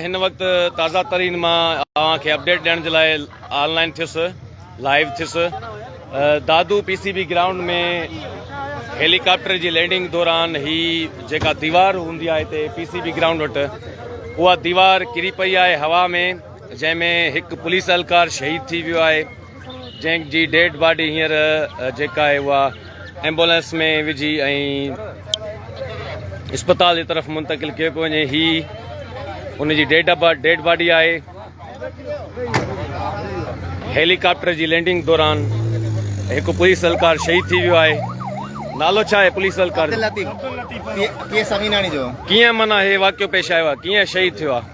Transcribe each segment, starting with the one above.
هن وقت تازه ترين مان اوهان کي اپڊيٽ ڏيڻ جي لاء آن لائن ٿيس لائيو ٿيس Dadu P C B ground ۾ helicopter جي لينڊنگ دوران هي جيڪا ديوار هوندي آهي هتي پي سي بي گرائونڊ وٽ اها ديوار ڪري پئي آهي هوا ۾ جنهن ۾ هڪ پوليس اهلڪار شهيد ٿي ويو آهي جنهن جي ڊيڊ باڊي هينئر جيڪا آهي اها ايمبولينس ۾ وجهي ۽ اسپتال جي طرف منتقل ڪيو پيو وڃي هي ان جي ڊيڊ ڊيڊ باڊي آهي هيليڪاپٽر جي لينڊنگ دوران هڪ پوليس اهلڪار شهيد ٿي ويو آهي نالو ڇا آهي پوليس اهلڪار ڪيئن مانا هي واقعو پيش آيو آهي ڪيئن شهيد ٿيو آهي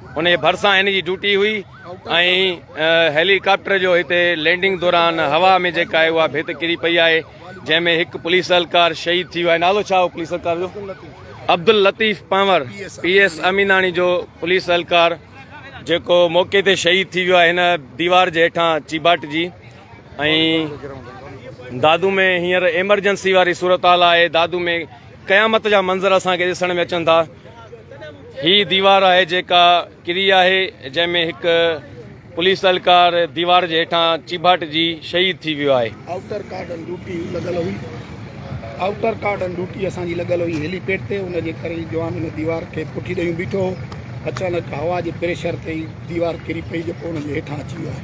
ان جي ڀرسان هن جي ڊيوٽي هئي ۽ هيلي ڪاپٽر جو هتي لينڊنگ دوران هوا ۾ جيڪا آهي اها ڀيت ڪري پئي آهي جنهن ۾ هڪ پوليس اهلڪار شهيد ٿي ويو آهي نالو ڇا هو پوليس اهلڪار جو عبدل لطيف پنور پي ايس اميناڻي جو پوليس اهلڪار جيڪو موقعي تي شهيد ٿي ويو آهي هن ديوار جي هيٺان چيباٽ جي ۽ دادو ۾ هينئر ايمرجنسي واري صورتحال آهي دادو ۾ قيامت جا منظر اسان کي ڏسڻ ۾ اچن ٿا. هي ديوار آهي جيڪا ڪري آهي جنهن ۾ هڪ پوليس اهلڪار ديوار جي هيٺان چيڀاٽجي شهيد ٿي ويو آهي. آئوٽر ڪارڊن ڊيوٽي لڳل هئي آئوٽر ڪارڊن ڊيوٽي اسان جي لڳل هئي هيلي پيڊ تي ان جي ڪري جوان ان ديوار کي پٺي ڏيون بيٺو هو اچانڪ هوا جي پريشر تي هي ديوار ڪري پئي جيڪو ان جي هيٺان اچي ويو آهي.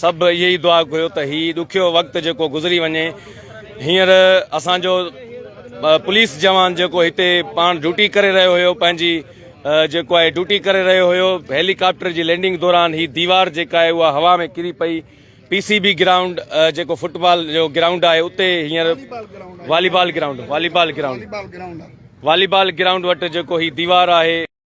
سڀ اهي ئي دعا گهريو ته هي ڏکيو وقت جيڪو گذري وڃي هينئر اسان جو پوليس جوان جيڪو هتي پاڻ ڊيوٽي ڪري رهيو هيو پنهنجي جيڪو آهي ڊيوٽي ڪري رهيو هيو هيليڪاپٽر جي لينڊنگ دوران هي ديوار جيڪا آهي اها هوا ۾ ڪري پئي پي سي بي گرائونڊ جيڪو فٽ بال جو گرائونڊ آهي اتي هينئر volleyball ground volleyball ground volleyball ground وٽ جيڪو هي ديوار آهي